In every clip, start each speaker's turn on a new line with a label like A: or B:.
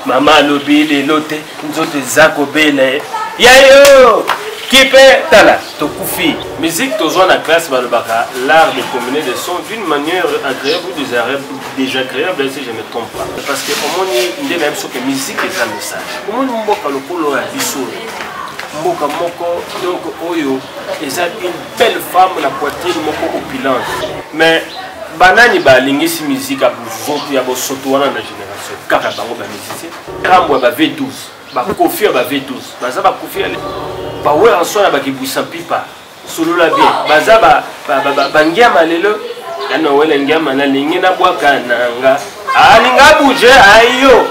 A: mama alobi lelo te nzoto eza kobela ye ya yo kipe tala tokufi musique tozwa na classe balobaka l'art de combiner des sons d'une manière agréable ou désagréable si je ne trompe pas parce que omoni nde na biso ke musique eza message omoni mboka lokolo ya biso mboka moko donc oyo eza une belle femme na poitrine moko opulence mais banani balingisi musique ya bozoto ya bosoto wana na général kaka bango ba musicien kambo ya ba v12 bakofi ya ba v12 baza bakofi ya bawer en soi na bakibwisa mpipa solola bien baza bangiama lelo ana wele ngiama nalingi nabwaka nanga alinga ah, buje ayo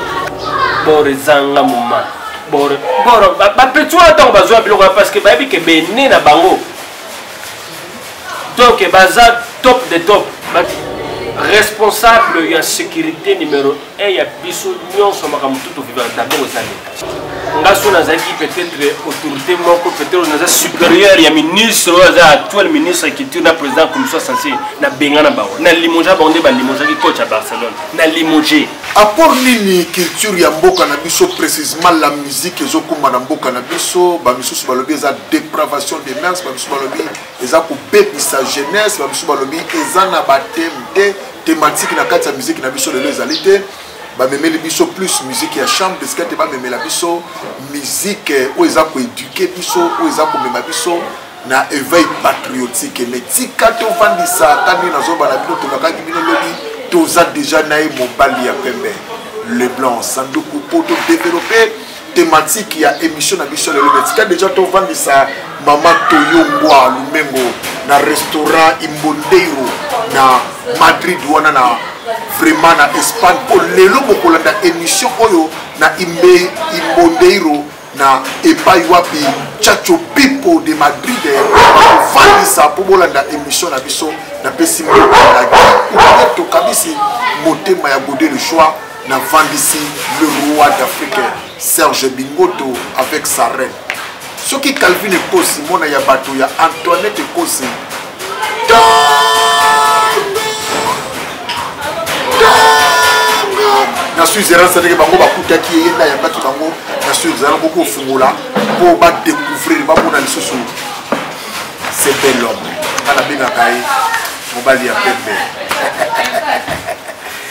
A: bore zanga moma bore boro bapetio ntango bazwa biloko parce que bayebi ke bene na bango donc baza top de top but responsable ya sécurité numéro 1 ya biso nyonso makambo tu tovivaka dabord eza leta nga so nazalaki peut-être autorité moko peut-être naza supérieur ya ministre oyo aza actuel ministre ya culture na président commission sensible nabengana bango na limoja bango nde balimogeaki coach ya barcelone na limoge Apport nini
B: culture ya mboka na biso précisément la musique ezokumba na mboka na biso bamisusu balobi eza dépravation des mers bamisusu balobi eza kobebisa jeunesse bamisusu balobi eza na bateme te thématique na kati ya musique na biso lelo ezali te bamemeli biso plus musique ya chambre esika te bamemela biso musique oyo eza koéduke biso oyo eza komema biso na eveil patriotique me tika tofandisaka nde nazoba na bino tolakaki bino lobi toza deja na ye mobali ya pembe le blanc sanduku mpo todevelope thématique ya émission na biso lelo me tika deja tofandisa mama toyongwa lumengo na restaurant imbondeiro na madrid wana na vraiment na espagne mpo lelo bokolanda émission oyo na imbe imbondeiro na epai wapi chacho pipo de madrid bakofandisa mpo bolanda émission na biso napesi mbokato kabisi motema ya gode le choix na vandisi le roi d'afrique serge bingoto avec sa reine soki calvin ekosi mwana ya bato ya antoinette ekosi na switzerland cetadire bango bakutaki ye na yambaki bango na switzerland boki kofungola mpo badécouvrir bamona lisusu c'est bel homme nga nabengaka ye mobali ya pembe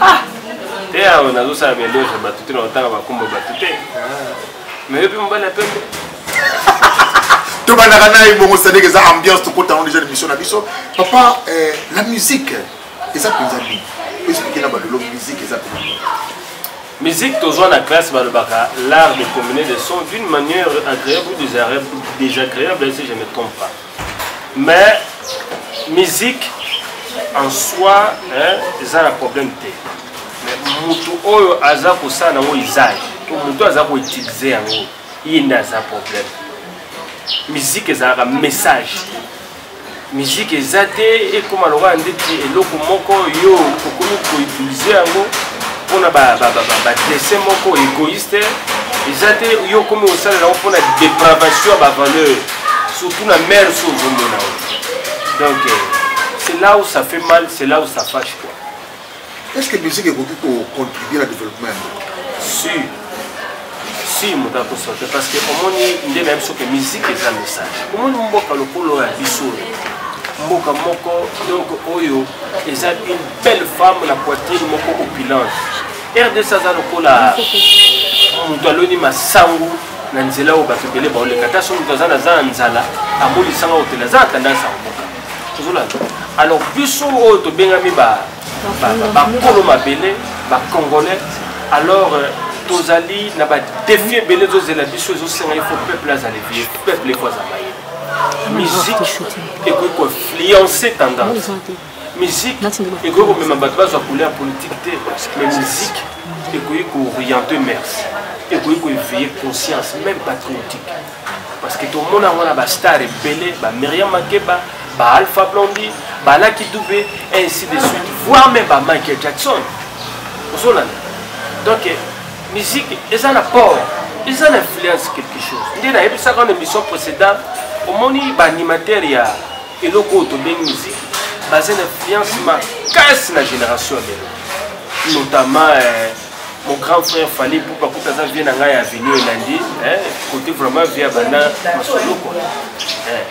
A: ah! te awa nazosala belege bato te na kotanga bakumba bato te ah. mais yo mpe mobali ya pembe
B: tobandaka naye bongo sadek eza ambiance tokotango deja l'émission na biso papa eh, la musique eza mpenza nini explike na balolo musique eza mpenza
A: musique tozwa na classe balobaka l'art de combiner des sons d'une manière agréable ou désagréable si je ne trompe pas mais musique en soi eza na problème te moto oyo aza kosala nango izali to moto aza koutilize yango ye nde aza problème miziki ezalaka message miziki eza te ekóma lokola ndeti eloko moko yo okomi koutilize yango mpona badese moko égoïste eza te yo okomi kosalela yango mpona dépravation ya bavaleur surtout na mère so ozomona yo donc euh, c'est là où ça fait mal c'est là où ça fâche quoi est ce que
B: musique ekoki kocontribue na développement yango si
A: si moto akosote parce que omoni nde na biso ke musique eza message omoni mboka lokolo ya biso mboka moko donc oyo eza une belle femme na poitrine moko opulence rdc aza lokola moto aloni masangu na nzela oyo bato ebele baoleka ata soki moto aza na za ya nzala amonisanga otela aza na tendance ya komoka ozolanda alors biso oyo tobengami bakolo mabele bacongolais alors euh, tozali na badefi ebele ezozela biso ezosenga ifo peuple azala vie peuple efo azala ye musique ekoki koinfluence tendance musique ekoki komema bato bazwa couleur politique te mais musique ekoki kooriente mers ekoki koeveille conscience même patriotique parce que tomona yango na bastar ebele bamiriam makeba baalpha blondi balaki dube ainsi de suite voire même bamichael jackson ozolanda donc musique eza na port eza na influence quelque chose nde nayebisaka na émission précédente omoni baanimateur ya eloko oyo tobengi miziki baza na influence makasi na génération ya lelo notamment eh, mon grand frère fali pupa kuta aza vie na ngai ya avenue elandi eh, côté vraiment vie ya banda masolo kua eh,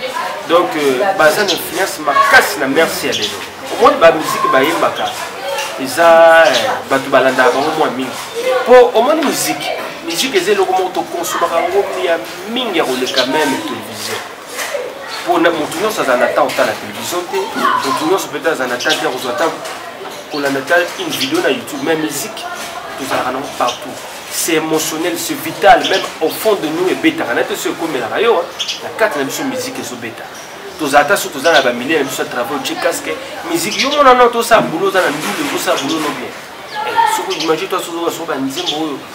A: donc euh, baza na influence makasi na merci ya lelo omoni bamiziki bayembaka eza bato balandaka bango mwa mingi mpo omoni miziki miziki eza eloko moko tokonsomaka yango ya mingi ya koleka meme television mpona motu nyonso azala na temps otala télévision te motu nyonso peut azala na temps te akozwa temps kolanda ta une vidéo na youtube mais musique tozalaka nango partout c'est émotionnel c'est vital même au fond de nous ebetaka na te so ekomelaka yo na kati na biso musique ezobeta tozala ta so toza na bamilie na biso ya travail otie casque musique yo mona no tosala boulot oza na ndule tosala boulot no bien eh, soko imagine toi sozoka soko banzembo oyo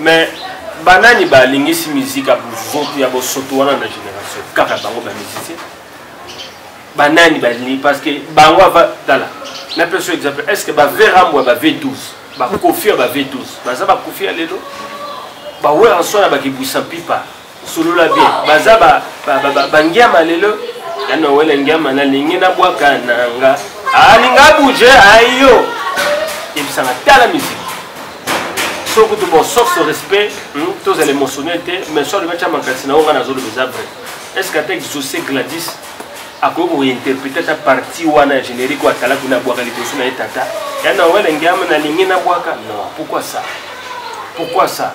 A: Mais banani ba lingisi musique ya bozoto ya bosoto wana na génération kaka bango ba musicien banani balingi parce que bango ava tala na peso exemple est ce que baverambwa ba v12 bakofi ya ba v12 baza bakofi ya lelo bawera nso na bakibwisa mpipa solola bien baza bangiama lelo ya nowele ngiama nalingi nabwaka nanga alinga ah, buje ayo ah, yebisanga tala miziki so kutu bon sauf ce respect hmm, tozala émotionnel te mais so alobi atya makanisi na yo ngai nazoloba eza vrai est ce que ata exauce gladis akoki kointerprete ata parti wana ya générique oyo atalaki na bwaka liboso na ye tata ya na wele ngiama nalingi nabwaka non pourquoi ça pourquoi ça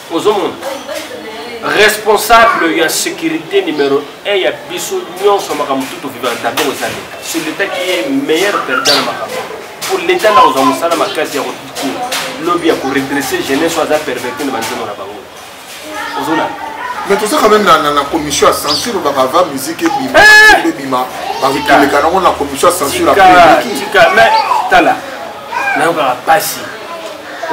A: ozomona responsable ya sécurité numéro 1 ya biso nyonso makambo tu tovivaka dabord eza leta ce leta qui est meilleur perdant na makambo po leta nda kozwa mosala makasi ya kotutu lobi ya koredresse jeunesse oyo aza perverte na banzembo na bango ozona mais toza
B: quand même na commission ya censure olobaka va musique ebima eh! ebima bakoleka nango na commission ya censure apres eleki
A: tala nayokaka mpasi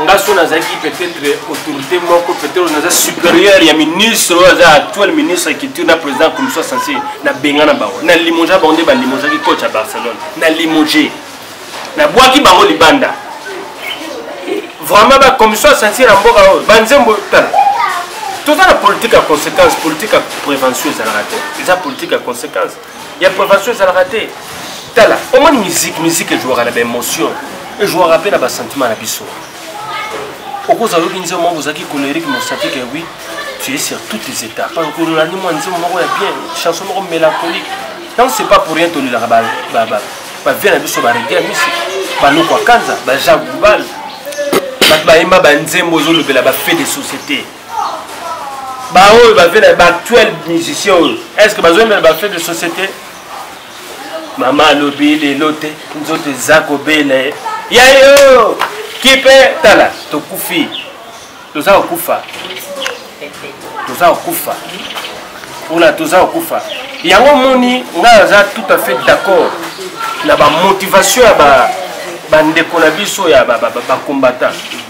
A: nga so nazalaki peut-être autorité moko peut-être naza supérieur ya ministre oyo aza actuel ministre ya culture na président commission sensier nabenga na bango na limoja bango nde balimojaki coach ya barcelone na limoje nabwaki bango libanda vraiment ba commission sensier na mboka oyo banzembo tala toza na politique ya conséquence politique ya prévention ezalaka te eza politique ya conséquence ya prévention ezalaka te tala omoni musique musique ejouaka na baémotion ejouaka mpe na basentiment na biso okozala oyoki nzembo moko ozalaki colérique mosati ke oui tu es sur toutes les étapes parce que olandi mwa nzembo moko ya bien chanson moko mélancolique donc c'est pas pour rien tolelaka bavie na biso barege ya misi banoko akanza baja global bato bayemba banzembo ezolobela bafait de société baoyo bavela baactuel musicien oyo est ce que bazoyembela bafait de société mama alobi lelo te nzoto eza kobela ye ya yo kipe tala tokufi toza kokufa toza kokufa mpona toza kokufa yango moni ngai aza tout à fait d'accord na bamotivation ya bandeko na biso ya bacombattant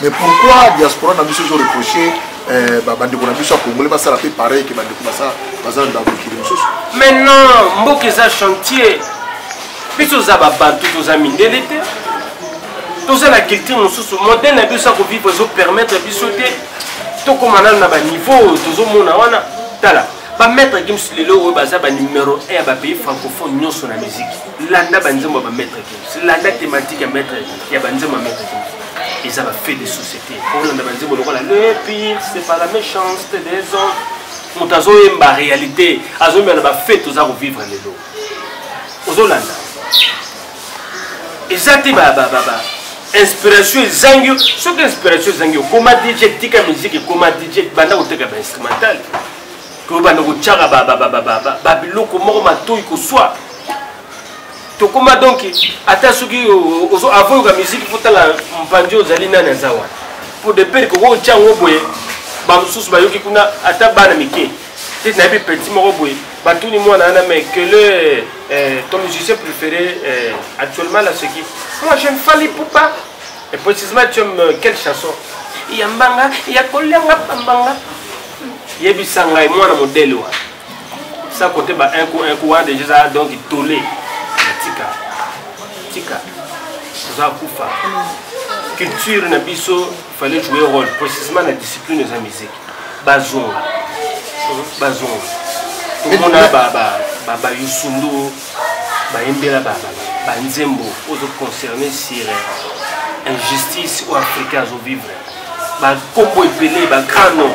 B: mais pourquoi diaspora na biso ezo reproche eh, bandeko na biso ya congolais basala mpe pareil ke bandeko baza na mokili mosusu maintenant
A: mboka eza chantier biso toza babantu toza mindele te toza na culture mosusu modele na biso ya kovivre ezopermettre biso te tokóma nano na baniveau tozomona wana tala bamaître gims lelo oyo baza banumero 1 ya bapays francophone nyonso na miziki landa banzembo ya bamaître gims landa thématique ya maître ya banzembo ya maître king eza bafait de société olanda banzembo lokola le pire c'est pas la méchanceté des hommes moto azoyemba réalité azoyemba na bafait toza kovivre lelo ozolanda eza te inspiration ezangi soki inspiration ezangi okoma dj tika musique ekoma dj banda koteka bainstrumental to banda kotyaka babiloko moko matoi koswa tokoma donc ata soki avant yoka musique mpo tala mpanzi ozali nani aza wana mpo de pere koki otya yango boye bamosusu bayoki kuna ata bana mike te nayebi petit moko boye batuni mwana wana mais que le euh, ton musicien préféré euh, actuellement la ce qui moi j'aime Fally Poupa et précisément tu aimes euh, quelle chanson ya mbanga ya kolianga pambanga yebisa ngai mwana modele wana sa kote ba un coup un coup wana deja eza donc tole tika tika oza kufa culture na biso fallait jouer rôle précisément na discipline eza musique bazonga bazonga tomona bayusundu bayembela banzembo ozo concerne sur injustice oyo africain azovivre bakombo ebele bagrand nom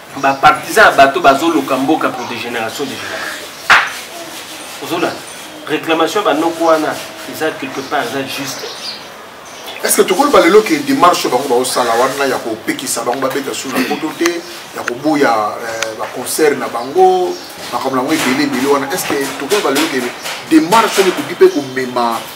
A: ba partisans ya bato bazoluka mboka pour de génération de génération ozolanda réclamation banoko wana eza quelque part eza juste est ce
B: que tokoloba lelo ke démarche bango baosala wana ya kopekisa bango babeta su na poto te ya koboya euh, baconcert na bango makambo na yango ebele ebele wana est ce que tokoloba lelo ke démarche wana ekoki mpe komema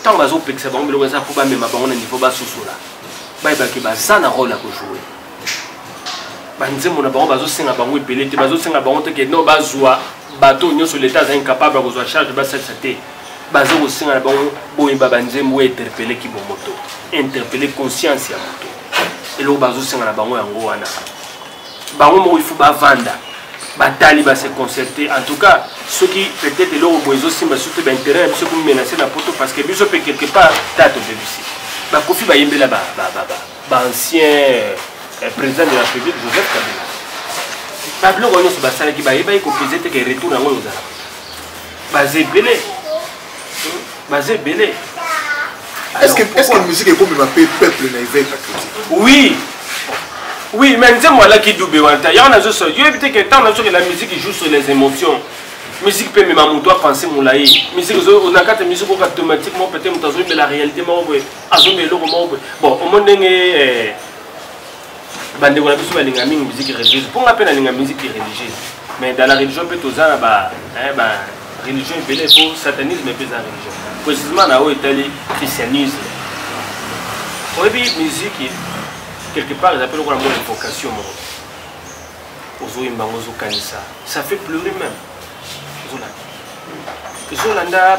A: ntango bazopekisa bango biloko eza mpo bamema bango na niveau basosola bayebaki baza na role ya kojoue banzembo na bango bazosenga bango ebele te bazosenga bango te keno bazwa bato nyonso leta aza incapable ya kozwa charge basalisa te baza kosenga na bango boyeba banzembo oyo interpele kibomoto interpele conscience ya moto eloko bazosenga na bango yango wana bango moko il faut bavanda batali base concerte en tout cas soki peut-être eloko boye ezosimba surtout baintérêt na biso ekomimenase na poto parce que biso mpe quelque part ta tobebisi bakofi bayembela baancien euh, euh, président de la république joseph kabila babiloko nyonso basalaki bayebaki kopese teke retour yango ozala baza ebele baza ebele
B: est-ce que est-ce que musique ekomema pe peuple na éveil patriotique
A: oui oui mais nzembo alaki dube wana ta yango nazo so yo ebite ke ntango nazokela musique joue sur les émotions musique mpe mema moto apense molai musique na kati ya musique oyo automatiquement peut-être moto azoyebela réalité moko boye azoyeba eloko moko boye bon omoni ndenge eh, bandeko na biso balinga mingi musique religieuse mpo nga mpe nalinga musique religieuse mais dans la religion mpe toza na ba religion ebele mpo satanisme mpe eza religion précisément na oyo etali christianisme oyebi musique quelque part eza mpe lokola mwa invocation moko ozoyemba yango ozokanisa ça fait pleurer même ozolanda ezolanda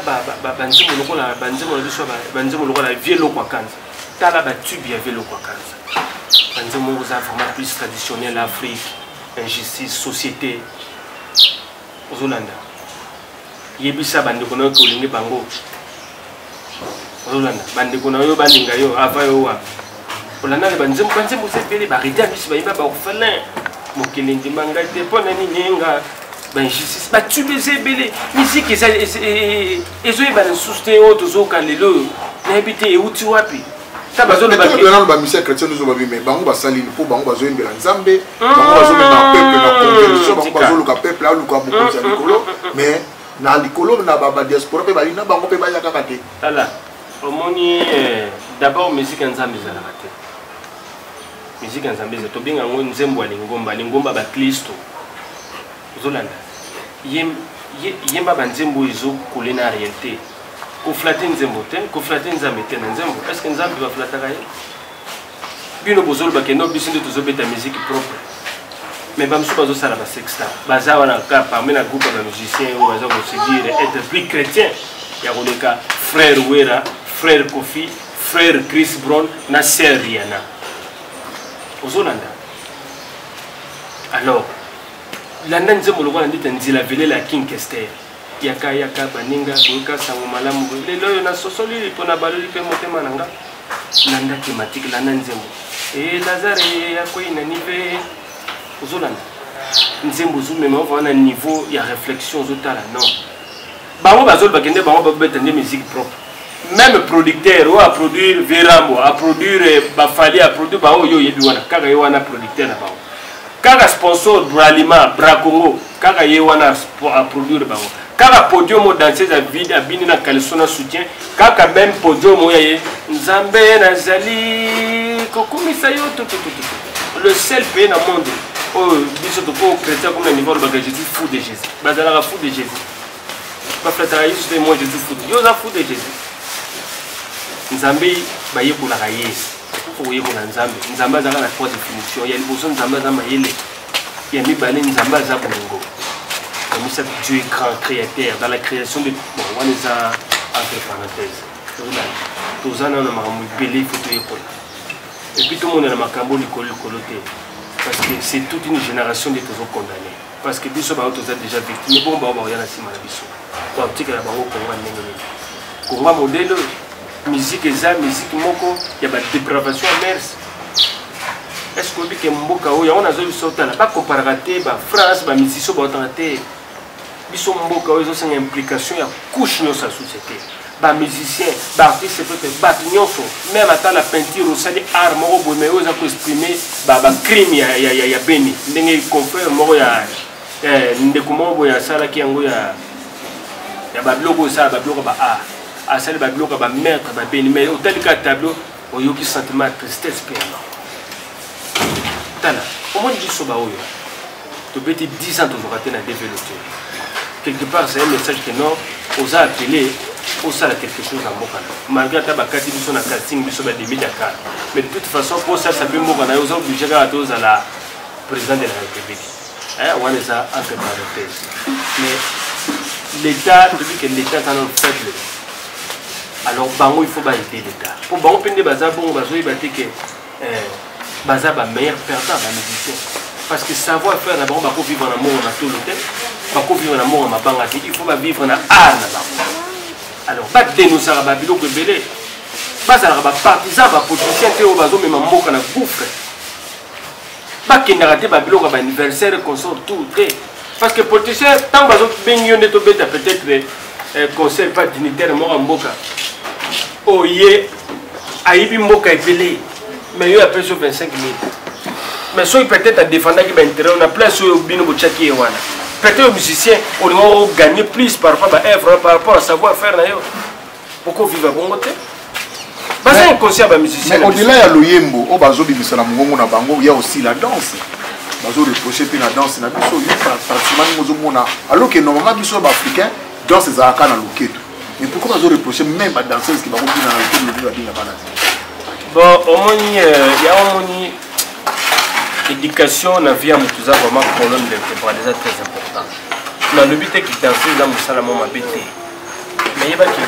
A: banzembo lokola banzembo na biso banzembo lokola vie lokwa kanza tala batube ya vie lokwa kanza banzembo yango oza vraiment plus traditionnel afrique injustice société ozolanda yebisa bandeko na yo ke olingi bango ozolanda bandeko na yo balinga yo ava yo wa olandani banzembo banzembo oza ebele barete ya biso bayimba baorphelin mokili ndima ngai te mpo na nini nga bainjustice batube eza ebele miziki ezoyebana lisusu te oyo tozoyoka lelo oyo nayebi te euti wapi tolobela nano bamisien chrétien nyonso babi
B: mai bango basali mpo bango bazoyembela nzambe bango bazomema peuple na conversion bango bazoluka peuple aluka mokonzi ya likolo mais na likolo na badiaspora mpe bayi na bango mpe baya kaka te tala
A: omoni eh, d'abord musique ya nzambe ezalaka te musique ya nzambe eza tobenga yango nzembo ya lingomba lingomba baklisto ozolanda yemba banzembo oyo ezokole na réalité koflate nzembo te koflate nzambe te na nzembo est ce que nzambe baflataka ye bino bozoloba kendo biso nde tozobeta musique propre mais bamosusu bazosala basexta baza wana ka parmi na groupe ya bamusicien oyo baza kosedire être plus chrétien ya koleka frère wera frère kofi frère chris brown na sœur riana ozolanda alors landa nzembo lokola ndita nzila velela ya king kester yaka yaka baninga boyoka sango malamu boye lelo oyo nasosoli mpo nabaloli mpe motema na nga landa tematike landa nzembo e lazare akwei na nive ozolanda nzembo ozomema ova wana niveau ya réflexion ozotala non bango bazoli bakende bango babeta nde musique propre même producteur oyo aproduire verambo aproduire eh, bafali aproduire bango oyo oyebi wana kaka ye wana producteur na bango kaka sponsor bralima bracongo kaka ye wana aproduire bango kaka podium oyo danseuse avide abini na caleson na soutien kaka meme podium oyo ye nzambe nazali kokumisa yo tutututu le seul pays na monde oyo biso tokoki chrétien comme na niveau alobaka jésus fou de jésus bazalaka fou de jésus baflataka yesu te moi jesus foute yo oza foute jesus nzambe bayekolaka ye okoyekola nzambe nzambe azalaka na trois définition ya liboso nzambe aza mayele ya mibale nzambe aza bolingo ya misato dieu est grand créateur dans la création de bon wana eza entre parenthèse toza nano na makambo ebele ifo toyekola epuis tomonana makambo likolo likolo te parce que c'est toute une génération nde tozokondamne parce que biso bango toza déjà victime bongo bango bakoya na nsima na biso bakotikela bango kongo ndenge nini kongo ya modele oyo miziki eza miziki moko ya badepravation ya mers est ce que oyebi ke mboka oyo yango nazo biso otala bakomparaka te bafrance bamisisio baotaka te biso mboka oyo ezosenga implication ya couche nyonso ya société ba musicien ba artiste peut être bato nyonso meme ata na peinture osali art moko boye mai oza koexprime bacrime ya, ya, ya, ya beni ndenge confrère moko ya eh, ndeko moko boye asalaki yango ya, ya babiloko osala babiloko ba art asali babiloko ya bamaître babeni mai otali ka tableau oyoki sentiment ya tristesse mpe yango tala omoni biso baoyo tobeti 10 ans tozoka te na develope quelque part c'est un message que non oza appelé osala quelque chose na mboka na malgré ata bakati biso na casting biso bademi dakar mais de toute façon mpo osalisa mpe mboka na yo oza oblige kaka te ozala président de la république wana eza entre parenthèse mais l'état tobi ke l'état eza nano faible alors bango il faut baide l'état mpo bango mpe nde baza bongo bazoyeba te ke eh, baza ba meilleur perdant ba musicien parce que savoir faire na bango bako vivre na moko na tolo te bako vivre na moko mabanga te il faut ba vivre na art na bango alors ba dénoncaka ba biloko ebele bazalaka ba partisan ba politicien te oyo bazomema mboka na gouffre bakendaka te babiloko ya baanniversaire consort tour te parce que politicien ntango bazobengi yo nde tobeta peut-être eh, conseil pa dignitaire moko ya mboka oye ayibi mboka ebele mais yo apesi yo 25 mille mais soki peut-être adefendaki baintérêt na place oyo bino botyaki ye wana peut-être yo musicien olingaki ogagner plus par rapport baœuvre par rapport à savoir faire na yo boko viva bongo te baza inconscient ba musicien mais au-delà ya loyembo
B: oyo bazobimisa na mongongo na bango ya aussi la danse bazoreproche mpe na danse na biso yo pratiquement ndenge ozomona alors que normalement biso ya baafricain danse ezalaka na loketo mais pourquoi bazoreproche même badanseuse ke bakobina na loketo lobi babina bana
A: bon omoni euh, ya omoni éducation na vie ya moto eza vraiment colonne vertébrale eza très important nalobi te kidanse eza mosala mwa mabe te nayeba ke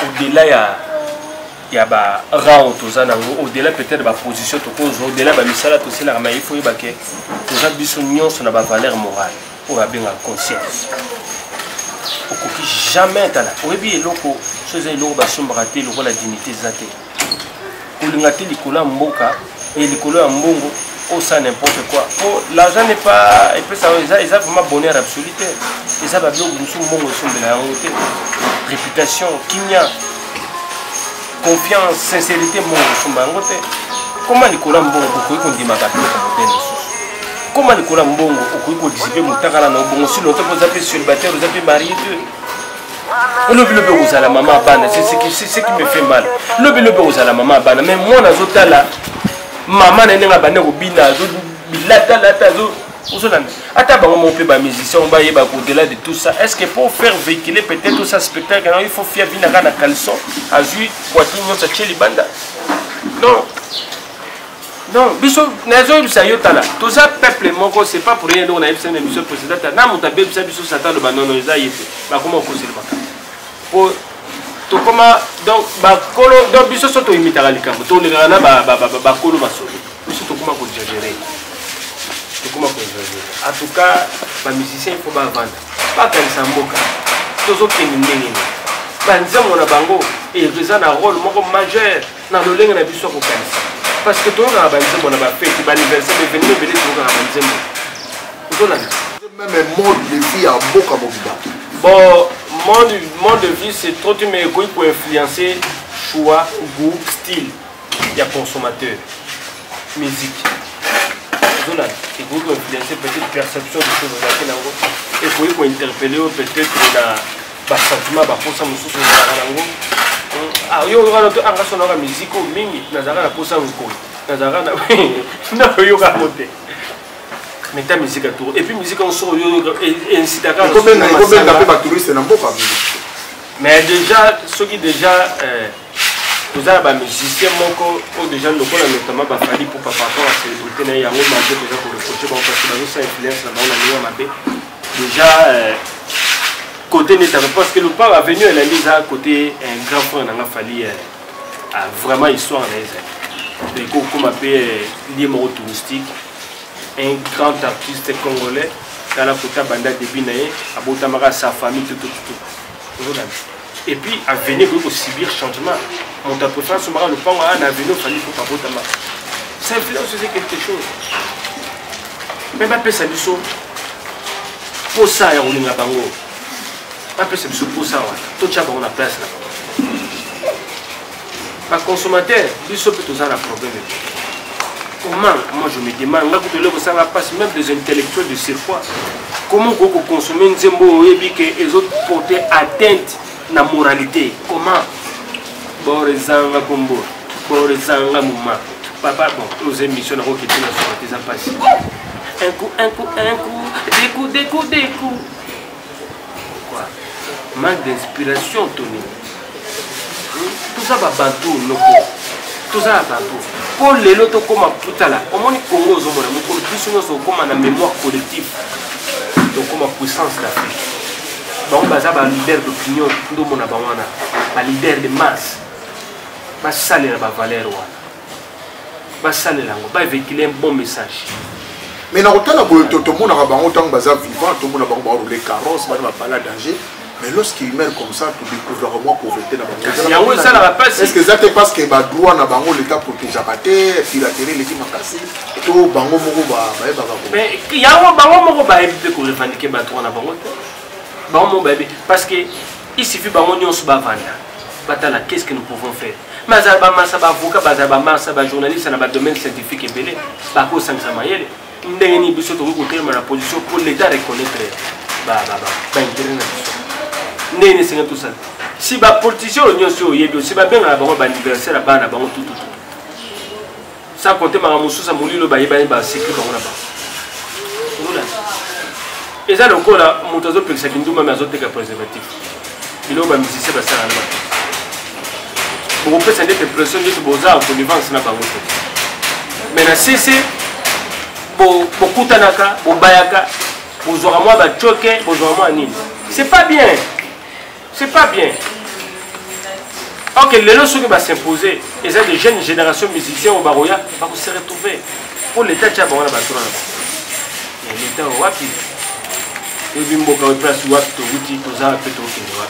A: au-delà ya ya ba rang toza nango au-delà peut-être ba position tokozwa au-delà ba misala tosalaka mais il faut yeba ke toza biso nyonso na ba valeur morale oyo abengaka conscience okoki jamais tala oyebi eloko so eza eloko basombaka te lokola dignité eza te kolinga te likolo ya mboka e likolo ya mbongo osa n'importe quoi po l'argent n'est pas epesa eza eza vraiment bonheur absolu te eza babiloko mosusu mbongo esombela yango te réputation kimia confiance sincérité mbongo esomba yango te koma likolo ya mbongo bokoki kondimaka biloko modele mosusu koma likolo ya mbongo okoki kodizipe motakala na obongo si lonto mpo oza mpe célibataire oza mpe marie te lobi lobi okozala mama abana seki me fait mal lobi lobi okozala mama abana mais mwana azotala mama na ye ndenge abanda kobina azobilatalata ozolanda ata bango moko mpe bamusicien bayeba kodela de tout ça est ce que pour faire véhicule peut-être osa spectacle yango il faut fia binaka na caleçon azwi poitine nyonso atie libanda non non biso nazoyebisa yo tala toza peuple moko c'est pas pour rien donc nayebisa na biso président ta na moto abebisa biso satan aloba nono eza ye te bakoma okoseli makambo po tokoma donc bakolo donc biso so toimitaka likambo tolekaka na bakolo masolo biso tokoma kojagere tokoma kojagere en tout cas bamusicien il faut bavanda bakanisa mboka tozokende ndenge nini banzembo na bango eza na role moko majeur na lolenge na biso ya kokanisa parce que toyokaka banzembo na bafeti baaniversaire baevenima ebele toyokaka banzembo ozolanda meme mode de vie
B: ya mboka mobimba bon
A: mode, mode de vie c'est trop te mais ekoki koinfluencer choix goût style ya consommateur musique ozolanda ekoki koinfluencer peut-être perception de choses ozalaki nango ekoki kointerpelle yo peut-être na basantima baposa mosusu ezalaka nango hmm, ah, yo wana to anga sonaka miziki oyo mingi nazalaka na posa nkoi nazalaka na nakoyokaka te meta miziki aturo epuis miziki yango soko yoinsitakakobenga
B: mpe batouriste na mboka mais
A: déjà soki déjà euh, toza na bamusicien moko oyo deja lokola notamment bafali mpo par rapport ya célébrité na ye yango mabe toza koreproche bango parce que bazosa influence na bango na ndenge ya mabe deja côté euh, neta parce que lopango avenue elandi eza côté un grand frère na nga fali euh, ah, vraiment histoire na ye ezali ekoki kokoma mpe euh, lie moko touristique un grand artiste congolais tala kota banda début na ye abotamaka sa famille tutututu et puis avenue ekoki kosubir changement moto ya préférence sombaka lopango aa na avenue ofandi mpo babotama ça influence ose quelque chose me bapesa biso mposa ya kolinga bango bapesa biso mposa wana totya bango na place na bango ba consommateur biso mpe toza na problème comment moi je me demande nga kutu eloko esanga mpasi même des intellectuels de surpoids comment okoki kokonsome nzembo oyo oyebi ke ezoporte atteinte na moralité comment bor ezanga kombo bor ezanga moma papa bon oza émission nako kiti na soki eza mpasi un coup un coup un coup deku deku deku pourquoi manque d'inspiration to nini toza babantu noko toza na bantu mpo lelo tokóma kutala omoni congo ozomona mokolo biso nyonso okóma na mémoire collective tokóma puissance d'afrique bango baza baleader d'opinion ndomona bango wana baleader de masse basalela bavaleur wana basalela yango bavekile un bon message mais
B: nakotala boye tomonaka bango ntango baza vivant tomona bango baroule carrosse bana bapala danger mais lorsqu'il meurt comme ça todécouvraka mwa pauvreté na bangoyango esalaka mpasi estce eza te parce que badroit na bango leta protegeaka te piraterie eleki makasi to bango moko bayebaka
A: yango bango moko bayebi mpe korevandike badroit na bango te bango moko bayebi parce que il suffit bango nyonso bavanda batala qu'est ce que nous pouvons faire mais azala bamasa baavocat bazala bamasa bajournaliste na badomaine scientifique ebele bakosangisa mayele ndenge nini biso tokoki kotelema na position mpo l'état reconnaître baintere na biso ndenge nini esengeli tosala si bapolitisien oyo nyonso oyo oyebi osi babengana bango baaniversaire ya bana bango tututu sans compter makambo mosusu ya molili oyo bayebani basekre bango na bango eza lokola moto azopekisa kindumba me azoteka préservatif biloko bamusicien basala na bango bokopesa ndete pression ndete boza connivence na bango te me na sese bokutanaka bobayaka bozwaka mwa bacoke bozwaka mwa nini c'est pas bien C'est pas bien. Ok, les gens qui vont s'imposer, et c'est des jeunes générations musiciens au Baroya, bah, vous se retrouver. Pour l'État, tu as bon, on a battu Mais l'État, on va qui Et puis, on va place, on va tout goûter, tout ça, tout ça.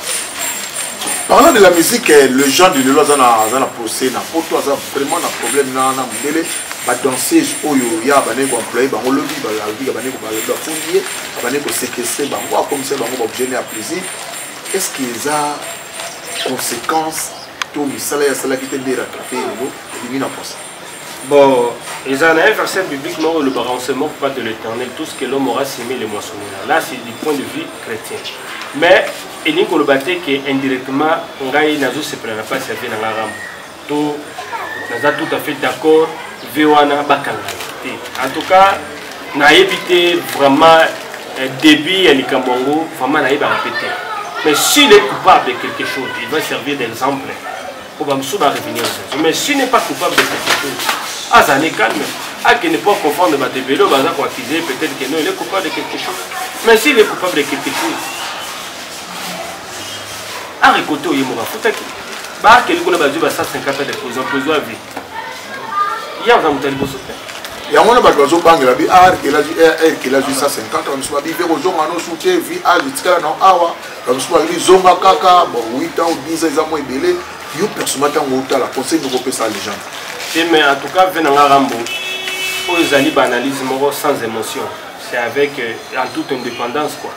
A: Parlant
B: de la musique, eh, le genre de Lelo aza na aza na procès na poto aza vraiment na problème na na mundele ba danseuse oyo ya bane ko employer bango lobi ba lobi ba bane ko ba lobi ba fouiller ba bane ko séquestrer bango akomisa bango ba objet ya plaisir est ce que eza conséquence to misala ya asalaki te nde rattrape yango ebimi na posa bon
A: eza na un verset biblique moko olobaka on se moque pas de l'éternel tout ce que l'homme aura semé le moissonnera là c'est du point de vue chrétien mais elingi koloba te ke indirectement ngai nazosepela na mpasi ya vie na ngai rambo to naza tout à fait d'accord ve wana bakanga te en tout cas nayebi te vraiment eh, début ya likambo yango vraiment nayebaka mpe te mais s'il est coupable de quelque chose il va servir d'exemple mpo bamosusu barevenir lisusu mais s'il n'est pas coupable de quelque chose azala ne calme akende mpo aconfondre bato ebele oyo baza koaccuse peut-être que non il est coupable de quelque chose mais s'il est coupable de quelque chose Arc koto ye moka futaki. Ba arc likolo ba zuba 150 de prison prison à vie. Ya za mutali boso pe. yango wana bato
B: bazobangela bi ar ah, kelazwi ar eh, eh, kelazwi 150 bamosusu babi mpe kozonga no su te vi age etikala nao awa bamosusu babi zonga kaka bon 8 ans ou 10 ans eza mwa ebele yo personnellement ntango otala conseil moko opesa legende te mais en tout cas ve na
A: nga rambo oyo ezali baanalyse moko sans émotion c'est avec euh, en toute indépendance quoi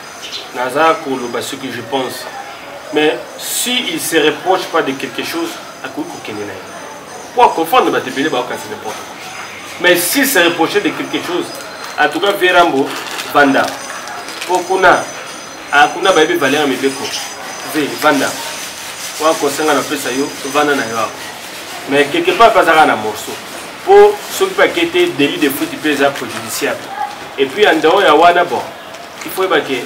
A: naza koloba ce que je pense mais si il se reproche pas de quelque chose akoki kokende na ye po aconfondre bato ebele baokanisi n'importe quoi mais si se reproche de quelque chose en tout cas verambo vanda po kuna kuna bayebi valeur ya mibeko ve vanda wana kosenga napesa yo vanda na yo awa mais quelque part mpe azalaka na morceau mpo soki mpe ake te délit de fruit mpe eza préjudiciable et puis en dehors ya wana bon il faut yeba ke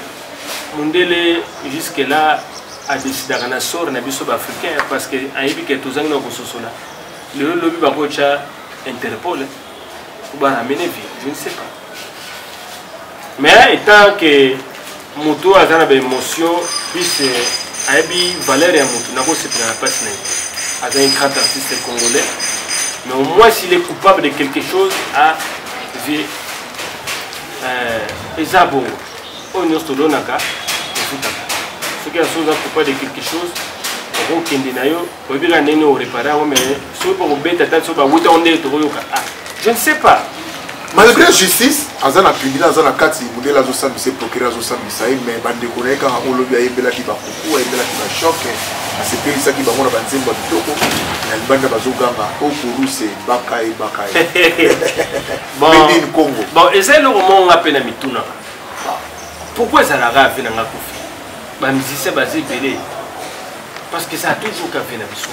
A: mundele jusque là adecidaka na sort na biso baafricain parce que ayebi ke tozangi na kososola lelo lobi bakotya interpol baramene vie je ne sais pas mais etant ke motu oyo aza na baémotion plus euh, ayebi valeur ya motu nakosepela na mpasi na ye aza un grand artiste congolais mais au moins s'il est coupable de quelque chose a vie eh, eza bongo oyo nyonso tolonaka ofutaka soki ya soza coupa de quelque chose okokende na yo oyebi kaka ndenge orepare yango mais soki mpo kobeta ta soki bawuta onde tokoyoka ah je ne sais pas malgré
B: justice aza na tribunal aza na kati modele azosambisa ye procureur azosambisa ye mais bandeko na ye kaka olobi ayembelaki bakuku ayembelaki bashoke asepelisaki bango na banzembo ya kitoko na libanda bazoganga okoruse bakaye bakaye made in congo bon eza eloko
A: moko nga mpe na mitunaka pourquoi ezalaka ave na nga kofi bamusicien baza ebele parce que ça a toujours kafe na biso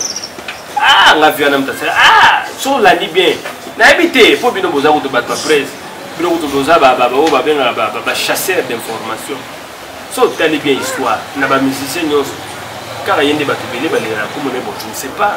A: ah nga vi wana mtasala ah so olandi bien nayebi te mpo bino boza kutu bato baprese bino kutu boza baoyo babengaka bachasseur d'information so otali bien histoire na bamusicien nyonso kaka ye nde bato ebele balingana komona bonjour c'est pas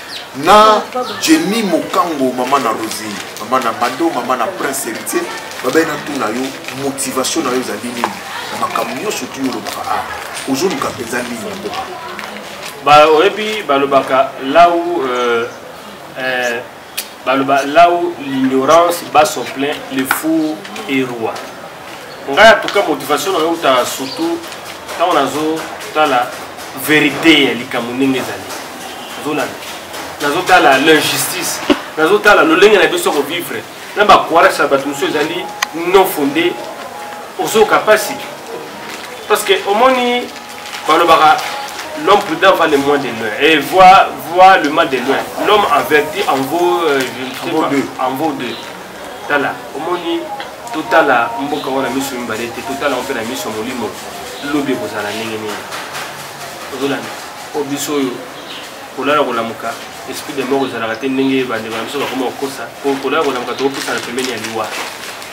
B: na jemi mokango mama na rosi mama na mado mama na prince héritier babai na tuna yo motivation na yo ezali nini na makambo nyonso tu olobaka a ah, ozoluka mpenza nini na mboka
A: oyebi balobaka lau euh, euh, baloba là où l'ignorance bat son plein le four et roi ngai atuka motivation na yo ta surtout ntango nazotala verité ya likambo ndenge ezali nazolanda nazotala l'injustice nazotala lolenge na biso kovivre na bakoarase ya bato mosusu ezali non fonde ozoyoka mpasi parce que omoni balobaka l'homme prudent va le moins de loin et voit, voit le mal de loin l'homme averti en vaut euh, je ne sais pas, deux. en vaut deux tala omoni totala mboka wana miso mibale te totala yango mpe na miso ya molimo lobi ekozala ndenge nini ozolanda o biso oyo kolala kolamuka esprit de mort ezalaka te ndenge bandeko na biso bakoma kokosa kolala kolamuka tokopusana pembeni ya liwa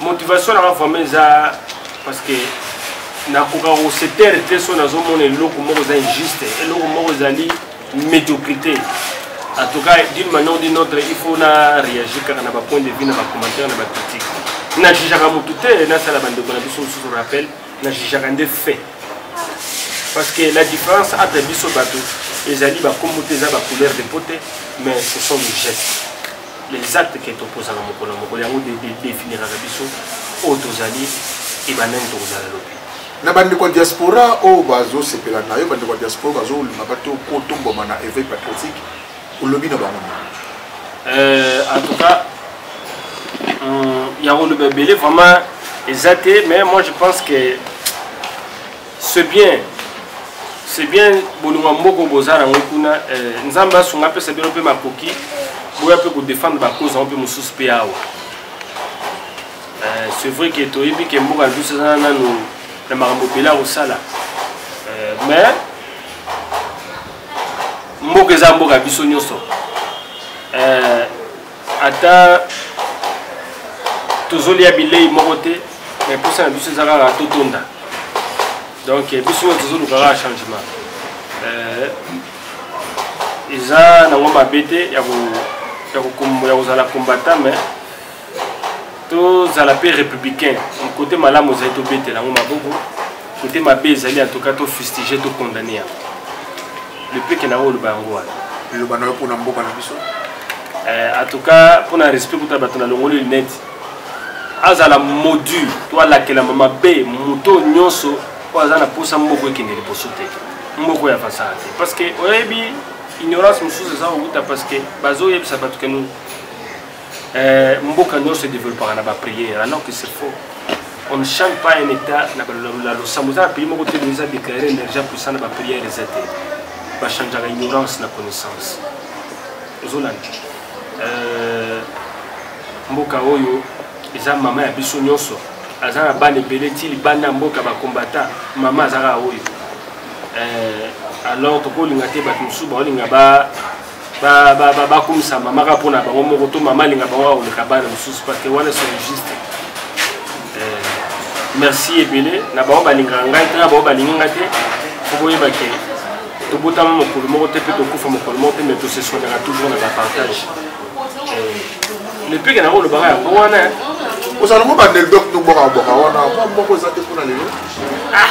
A: motivation nanga vraiment eza parce que nakoka kosetere te so nazomona eloko moko eza injuste eloko moko ezali médiocrité en tout cas d'une manière ou d'une autre il faut na réagir kaka na bapoint de vue na bacommentaire na bacritique na jugeaka motu te nasala bandeko na biso mosusu rappel na jugeaka nde fait parce que la différence entre biso bato ezali bakombo te eza bacouleur de po te mais ce sont des gestes les actes que toposaka mokolo na mokolo yango definiraka biso oyo tozali ebanda nini tokozala lobi na bandeko ya
B: diaspora oyo bazosepela na yo bandeko ya diaspora bazolinga bato kotomboma na éveil patriotique olobi na bango euh, en
A: tout cas ya koloba ebele vraiment eza te mais moi je pense que c'est bien c'est bien bolingo ya mboka boza nango kuna eh, nzambe asunga apesa bino mpe makoki boya mpe kodefendre bacause yango mpe mosusu mpe awa eh, c'est vrai ke toyebi ke mboka na biso eza nano na makambo ebele ya kosala eh, mais mboka eza mboka biso nyonso ata tozolia bilei moko te mais mposa na biso eza kaka totonda donc biso oyo tozoluka kaka changement euh, eza nango mabe te ya kozala combattant mais tozala mpe républicain kote malamu ezali tobetela yango maboko kote mabe ezali en tout cas tofustige tokondane yango lepeke na oloba yango wana eloba na yo mpona
B: mboka na biso eh, en
A: tout cas mpona respect kuta bato na longoli lunete azala module to alakelama mabe moto nyonso oyo aza na mposa moko ekende liboso te moko ya fasara te parce que oyebi ignorance mosusu eza kokuta parce que bazoyebisa bato kenu Euh, mboka nyonso edeveloppaka na bapriere alors que c'est faux on ne change pas un état na losambo eza na pays moko te eza déclare énergie puissant na bapriere eza te bachangeaka ignorance na connaissance ozolanda euh, mboka oyo eza mama ya biso nyonso aza na bana ebele ti libanda ya mboka bakombata mama azalaka oyo euh, alors tokolinga te bato mosusu baolinga ba bakumisa mama kaka mpona bango moko to mama alinga bango akoleka bana mosusu pake wana solo juste eh, merci ebele na bango balingaka ngai te na bango balingi ngai te fo boyeba ke tobotama mokolo moko te mpe tokufa mokolo moko te mai toseswanaka toujours na bapartage eh, lepeke nango olobaka yango wana ozala ngo
B: baneldoc tobwaka bwaka wana moko eza te mpona lelo ah!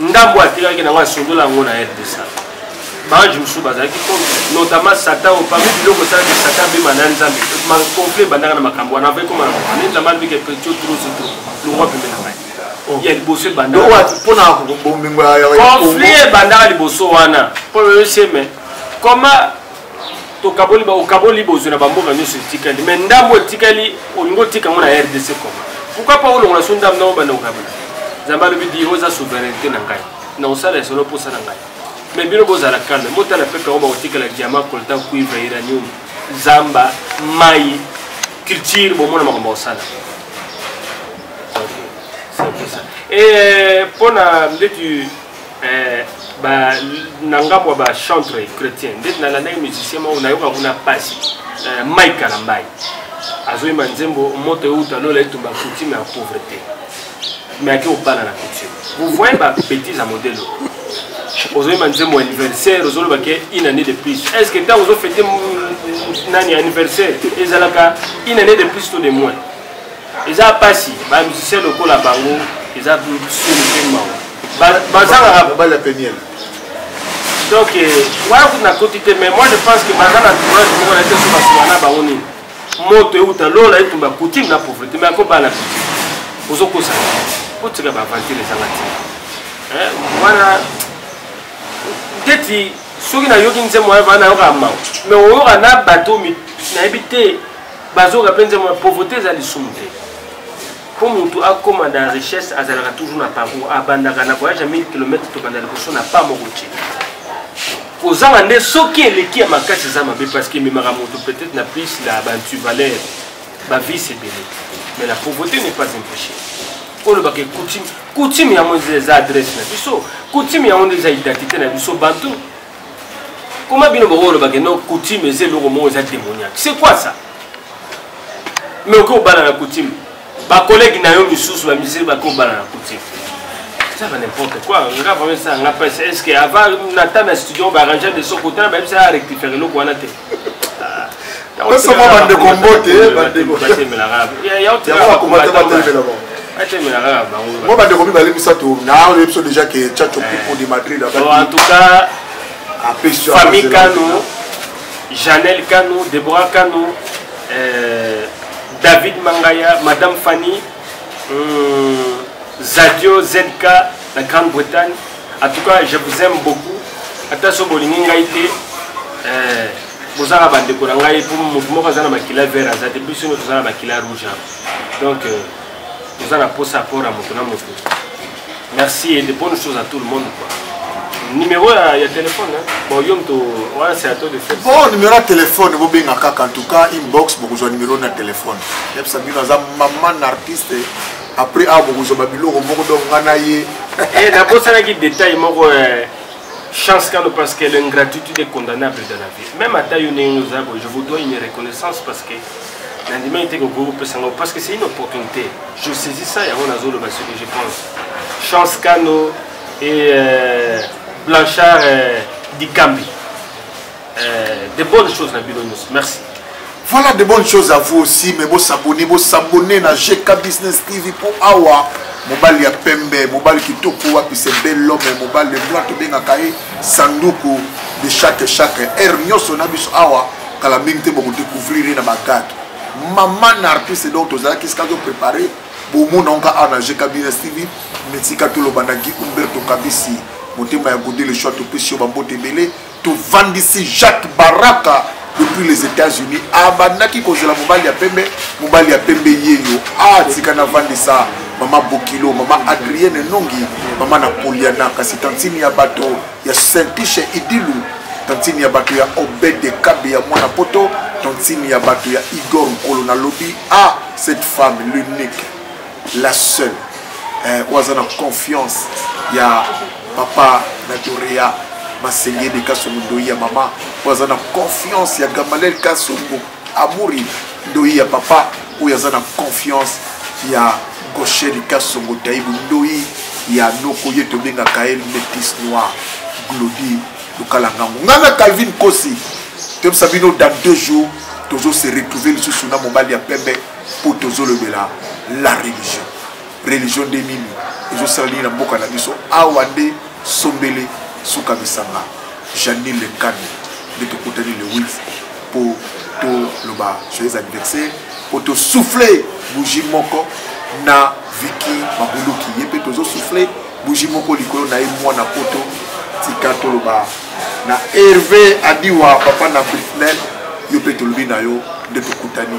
A: ndambo atikaki nango asundola yango na rdc baange mosusu bazalaki po notamment satan oyo parmi biloko esalaki satan abima na nzambe conflit ebandaka na makambo wana avai koma na makambo nde nzambe alobiki petio trosoto longwa pembe na ngai oh. ya liboso ebandakaconflit
B: ebandaka
A: liboso wana po oyoseme koma tokaboli okaboli bozwi na bamboka nyonso etikali mai ndambo etikali olingi otika yango na rdc koma pourkui pa olongola so ndambo ndambo banda kokabela nzambe alobi di oza souveraineté na ngai na kosala esolo mposa na ngai mai bino bozala kalme botala pepe yango bakotikala diama coltan cuivre iranium zamba mai culture bomona makambo bakosala mpo eh, na ndeti Eh, ba, na ngambo ya bachantre chrétien ndeti nalandaki musicien moko nayoka kuna mpasi eh, mike kalambai azoyemba nzembo moto euta lola etumba coutume ya pauvreté me ake obala na coutume vous voyez babétise ya modele ozoyemba nzembo anniversaire ozoloba ke une année de plus est ce que ntango ozofete nani anniversaire ezalaka une année de plus to de moins eza pasi ba musicien lokola bango eza soni mpe mawa bazangaka mobali ya peniel donc euh, wana kutu nakoti te mais moi je pense que baza na tourage moko na te so basuka na bango nini moto euta lola etumba coutume na pauvreté mais ako bana piti ozokosa otika baaventure ezanga te eh, wana ndeti soki nayoki nzembo wana nayokaka mawa mais oyoka na bato nayebi te bazoka mpe nzembo ya pauvreté eza lisumu te mpo motu akóma na richesse azalaka toujours na parcours abandaka na voyage ya 1000 km tobanda liboso na pa moko te kozanga nde soki eleki ya makasi eza mabe parce que ememaka moto peut-être na plus na bantu valeur bavice ebele mais la pauvreté n'est pas un péché olobaka coutume coutume yango eza adresse na biso coutume yango nde eza identité na biso bantu Comment bino boko loba que non coutume eza eloko moko eza démoniaque. C'est quoi ça? Mais oko bala na coutume. Ba collègues na yo misusu ba musiciens ba ko bala na coutume. Ça va n'importe quoi. On va vraiment ça, on a pas est-ce que avant na tana studio ba arranger de son côté, ba bisa rectifier eloko wana te.
B: tosoma bandeko mbote bandeko mo bandeko mibale misato na oyebi biso déjà ke chacho eh. pipo de madrid en tout
A: cas famille kano janel kano debora kano euh, david mangaya madame fanny hum, zadio zk na grande bretagne En tout cas, je vous aime beaucoup. Ata so bolingi ngai te, euh, bozala bandeko na ngai mpo moto moko aza na makila vert aza te biso nyonso toza na makila rouge donc euh, toza na mposa apport ya moto na moto merci et de bonnes choses à tout le monde quoi numéro ya, ya téléphone hein? bon yo moto wana c'est à toi de faire bon numéro ya téléphone
B: bobenga kaka en tout cas inbox bokozwa numéro na téléphone yebisa bino aza maman artiste après awa bokozwa babiloko moko donc nga na ye eh, nabosanaki
A: détail moko eh, chance kano parce que l'ingratitude est condamnable dans la vie même ata yo ndenge oza boye je vous dois une reconnaissance parce que nandimaki te kokoki kopesa ngai parce que c'est une opportunité je saisis ça yango nazoloba ce que je pense chance kano et euh, blanchard euh, dikambi Euh, de bonnes choses na bino nyonso merci voilà de
B: bonnes choses à vous aussi mais bosabone bosabone na gk business tv mpo awa mobali ya pembe mobali kitoko wapi se bel homme mobali lebla tobengaka ye sanduku de chaque chaque heure nyonso na biso awa kala mingi te bokodécouvrir ye na bagate mama na artiste donc tozalaki esika toprépare bomona onka awa na gk business tv metika toloba na gi umberto kabisi motema ya gode le choix topesi yo bambote ebele tovandisi jacques baraka depuis les états-unis abandaki kozela mobali ya pembe mobali ya pembe yeyo atika ah, navandisa mama bokilo mama adrienne nongi mama napoliana kasi tantine ya bato ya saintiche idilu tantine ya bato ya obede kabe ya mwana poto tantine ya bato ya igor nkolo nalobi a ah, cette femme l'unique la seule eh, oyo aza na confiance ya papa na dorea masengeli kasongo ndoi ya mama oyo aza na confiance ya gamalel kasongo amuri ndoi ya papa oyo aza na confiance ya gosheri kasongo taibu ndoi ya noko ye tobengaka ye metis noir glodi lokalangango ngai na calvin kosi toyebisa bino dans deux jours tozo se retrouver lisusu na mobali ya pembe mpo tozolobela la religion religion nde nini ezosala nini na mboka na biso awa nde sombele suka misanga janine lekano nde tokutani le 8 mpo toloba joyeux anniversaire mpo tosouffle bougie moko na viki mabuluki ye mpe tozosouffle bougie moko likolo na ye mwana poto tika toloba na herve adiwa papa na britnel yo mpe tolobi na yo nde tokutani